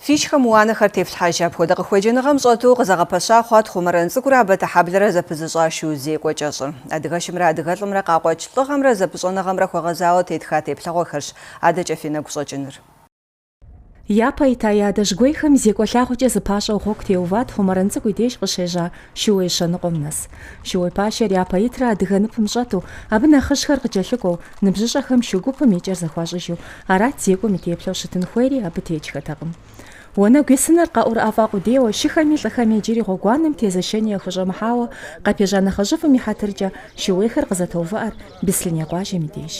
Фи шхэм уанэхэр тефлъхьэж, апхуэдэ къыхуеджэныгъэм щӏэту къызэгъэпэща хъуат Хъумэрэн цӏыкӏурэ Абэтэхьэблэрэ зэпызыщӏа шу зекӏуэ кӏэщӏыр. Адыгэшымрэ адыгэлӏымрэ къакъуэкӏ лӏыгъэмрэ зэпыщӏэныгъэмрэ хуэгъэзауэ тетха теплъэгъуэхэрщ адэкӏэ фи нэгу щӏэкӏыныр. Япэ ита я адэжьгуейхэм зекӏуэ лъагъуэкӏэ зыпащӏэу гъуэгу теуват Хъумэрэн цӏыкӏу и деж къыщежьа шууей щэныкъуэм нэс. Шууей пащэр япэ итрэ адыгэ ныпым щӏэту, абы нэхъыжьхэр къыкӏэлъыкӏуэу, ныбжьыщӏэхэм шу гупым и кӏэр зэхуащӏыжу, арат зекӏуэм и теплъэу щытын хуейри абы текӏхэтэкъым. Уанэгу исыныр къаӏурыӏэфӏа къудейуэ, шыхэми лӏыхэми иджыри гъуэгуанэм тезэшэни яхущӏэмыхьауэ къапежьа нэхъыжьыфӏым и хьэтыркӏэ шууейхэр къызэтоувыӏэр Бислъыней къуажэм и деж.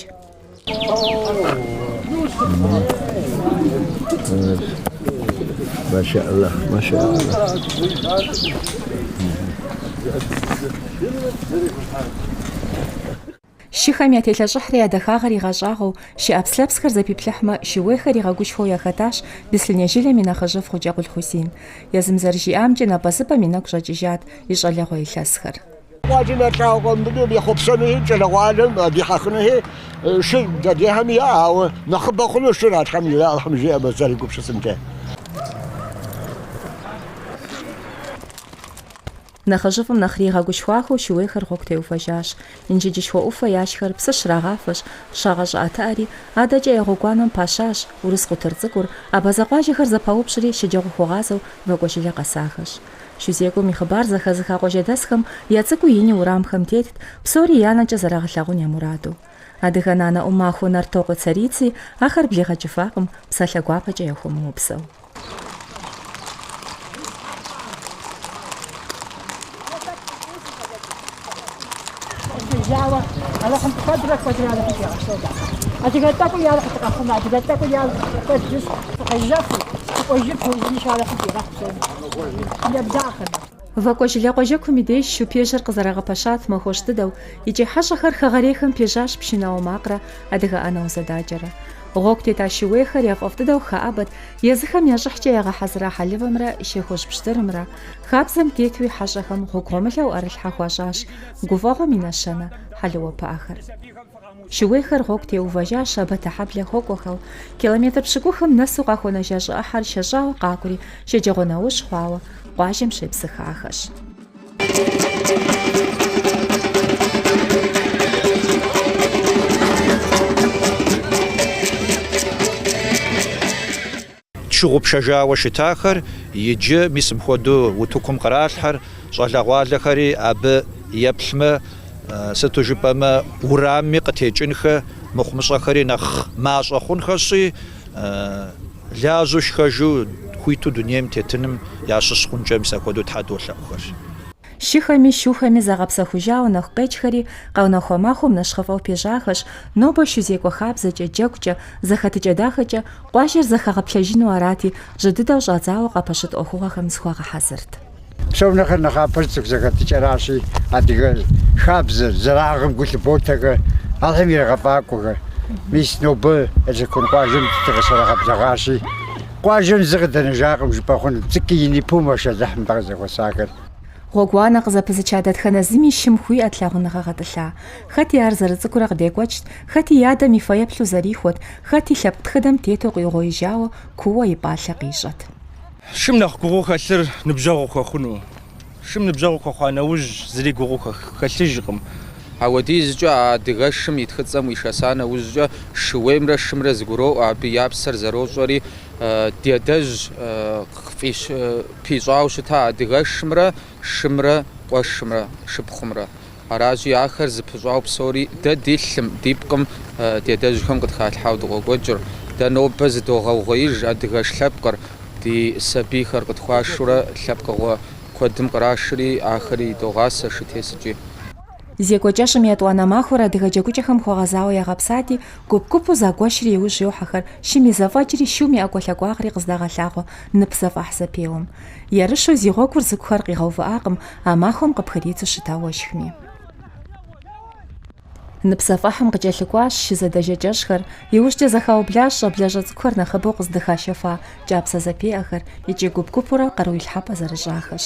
Шыхэм ятелъэщӏыхьрэ я дахагъэр игъэщӏагъуэу, шы ӏэпслъэпсхэр зэпиплъыхьмэ, шууейхэр игъэгушхуэу яхэтащ Бислъыней жылэм и нэхъыжьыфӏ Хъуджэкъул Хьусин. Езым зэрыжиӏамкӏэ, напӏэзыпӏэм и нэгу щӏэкӏыжат и щӏалэгъуэ илъэсхэр. Къуажэм я лӏагъуэ къэмыбынур ехъуэпсэнури, кӏэрыгъуалэм а дихьэхынухи шыр дэдехьэм иӏэ, ауэ нэхъыбэ хъуну шыр а Тхьэм иралъхьым, жиӏэ мы зэрыгупсысынкӏэ. Нэхъыжьыфӏым нэхъри игъэгушхуахэу шууейхэр гъуэгу теувэжащ. Инджыджышхуэ ӏуфэ яшхэр псы щрагъафэщ, щагъэщӏыӏэтыӏэри, адэкӏэ я гъуэгуанэм пащащ, урыс къутыр цӏыкӏур, абазэ къуажэхэр зэпаупщӏри шэджагъуэ хуэгъазэу Вакӏуэжылэ къэсахэщ. Шу зекӏуэм и хъыбар зэхэзыха къуажэдэсхэм я цӏыкӏуи ини уэрамхэм тетт, псори я нэкӏэ зэрагъэлъагъун я мураду. Адыгэ нанэ ӏумахуэ Нартокъуэ Царици ахэр блигъэкӏыфакъым, псалъэ гуапэкӏэ яхуэмыупсэу. Къыщежьауэ Алыхьым куэдрэ куэдрэ Алыхьым фигъэсэбэ. Адыгэ тӏэкӏуи яуэ къытыкъэхъумэ, адыгэ тӏэкӏуи яуэ куэд жыс фыкъезэхуи, фыкӏуэжыр пэужынищ Алыхьым фигъэхь псоми. Ебдахъэ. Вакӏуэжылэ къуажэкум и деж шупежьэр къызэрагъэпэщат махуэщӏ дыдэу, икӏи хьэщӏэхэр хэгъэрейхэм пежьащ пшынауэ макърэ адыгэ ӏэнэ узэдакӏэрэ. Гъуэгу тета шууейхэр яфӏэфӏ дыдэу хэӏэбэт, езыхэм я щӏыхькӏэ ягъэхьэзыра хьэлывэмрэ шей хужь пщтырымрэ. Хабзэм тетуи хьэщӏэхэм гъуэгу гъуэмылэу ӏэрылъхьэ хуащӏащ гуфӏэгъуэм и нэщэнэ хьэлыуэ пыӏэхэр. Шууейхэр гъуэгу теувэжащ Абэтэхьэблэ хуэкӏуэхэу, километр пщыкӏухым нэсу къахуэнэжа щӏы ӏыхьэр шэщӏауэ къакӏури шэджагъуэ нэужь хъуауэ къуажэм щепсыхахэщ. Тщыгъупщэжауэ щытахэр иджы мис мыпхуэдэу утыкум къралъхьэр, щӏалэгъуалэхэри абы еплъмэ, сыту жыпӏэмэ, урамми къытекӏынхэ, мыхъумыщӏэхэри нэхъ мащӏэ хъунхэщи, лажьэу шхэжу хуиту дунейм тетыным ящыщ хъункӏэ мис апхуэдэу Тхьэ долъэӏухэр. Шыхэми, шухэми загъэпсэхужауэ нэху къекӏхэри къэунэхуа махуэм нэщхъыфӏэу пежьахэщ, нобэ шу зекӏуэ хабзэкӏэ, джэгукӏэ, зэхэтыкӏэ дахэкӏэ къуажэр зэхэгъэплъэжыну арати, жьы дыдэу щӏадзауэ къапэщыт ӏуэхугъуэхэм зыхуагъэхьэзырт. Псом нэхърэ нэхъапэр цӏыху зэхэтыкӏэращи, адыгэ хабзэр, зэраӏыгъым гу лъыботэхэр, алъэм ирагъэфӏакӏуэхэр. Мис нобэ Эрсакон къуажэм дыкъыщрагъэблэгъащи, Къуажэм зы къыдэнэжакъым жыпӏэ хъунут, цӏыкӏуи ини пумэ шэлыхь нтӏэ къызэхуэсахэр. Гъуэгуанэ къызэпызыча дэтхэнэ зыми шым хуиӏэт лъагъуныгъэ гъэтӏылъа. Хэти ар зэрыцӏыкӏурэ къыдекӏуэкӏт, хэти и адэм и фэеплъу зэрихуэт, хэти лъэпкъ тхыдэм тету къиугъуеижауэ куууэ и пӏалъэ къищӏэт. Шым нэхъ гугъуу хэлъыр ныбжьэгъу хуэхъуну. Шым ныбжьэгъу хуэхъуа нэужь, зыри гугъуу хэлъыжкъым. Ауэдизкӏэ а адыгэшым и тхыцӏэм уишэса нэужькӏэ, шууеймрэ шымрэ зэгуроӏуэ, абы я псэр зэрощӏэри, ди адэжь пищӏауэ щыта адыгэшымрэ шымрэ къуэшымрэ шыпхъумрэ. Аращи, ахэр зэпыщӏауэ псори дэ ди лъым, ди пкъым ди адэжьхэм къытхалъхьауэ дыкъокӏуэкӏыр. Дэ нобэ зыдогъэугъуеиж адыгэш лъэпкъыр, ди сабийхэр къытхуашурэ лъэпкъыгъуэ куэдым кърашри, ахэри догъасэ шытесыкӏи. Зекӏуэ кӏэщӏым етӏуанэ махуэр адыгэ джэгукӏэхэм хуэгъэзауэ ягъэпсати, гуп-гупу загуэшри иужь йохьэхэр, шым и зэфӏэкӏри, шум и ӏэкӏуэлъакӏуагъри къыздагъэлъагъуэ нып зэфӏэхь зэпеуэм. Ерыщу зи гъуэгур зыкӏухэр къигъэувыӏакъым а махуэм къыпхыридзу щыта уэшхми. Нып зэфӏэхьым къыкӏэлъыкӏуащ шы зэдэжэ кӏэщӏхэр, иужькӏэ зэхаублащ щӏэблэщӏэ цӏыкӏухэр нэхъыбэу къыздыхашэфа кӏапсэ зэпеӏэхэр, икӏи гуп-гупурэ къаруилъхьэпӏэ зэрыщӏахэщ.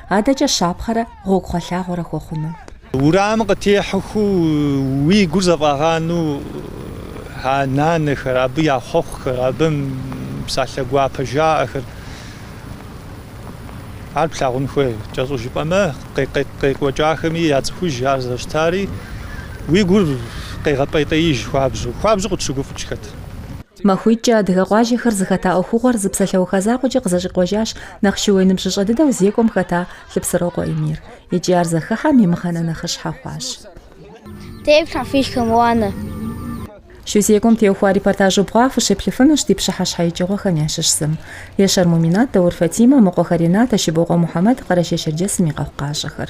Адэкӏэ щапхъэрэ гъуэгугъэлъагъуэрэ хуэхъуну. Урамым къытехьэхэу уи гур зэфӏагъану а нанэхэр, абы я хъуэхъухэр, абы псалъэ гуапэ жаӏэхэр, ар плъагъун хуей. Кӏэщӏу жыпӏэмэ, къекӏуэкӏахэми яцӏыхуж ар зэрыщытари, уи гур къегъэпӏейтеиж хуабжьу, хуабжьу къытщыгуфӏыкӏхэт. Махуитӏкӏэ адыгэ къуажэхэр зыхэта ӏуэхугъуэр зы псалъэуха закъуэкӏэ къызэщӏикъуэжащ нэхъ шууей ныбжьыщӏэ дыдэу зекӏуэм хэта Лъыпсырокъуэ Эмир. Икӏи ар зэхыхьэм и мыхьэнэ нэхъыщхьэ хъуащ. Тефлъхьэ фи шыхэм уанэ. Шу зекӏуэм теухуа репортаж убгъуа фыщеплъыфынущ ди пщыхьэщхьэ икӏыгъуэхэм ящыщ зым. Ешэр Муминат, Даур Фатимэ, Мыкъуэхэ Ренатэ, Щыбокъуэ Мухьэмэд, Къэрэшей-Шэрджэсым и къэхъукъащӏэхэр.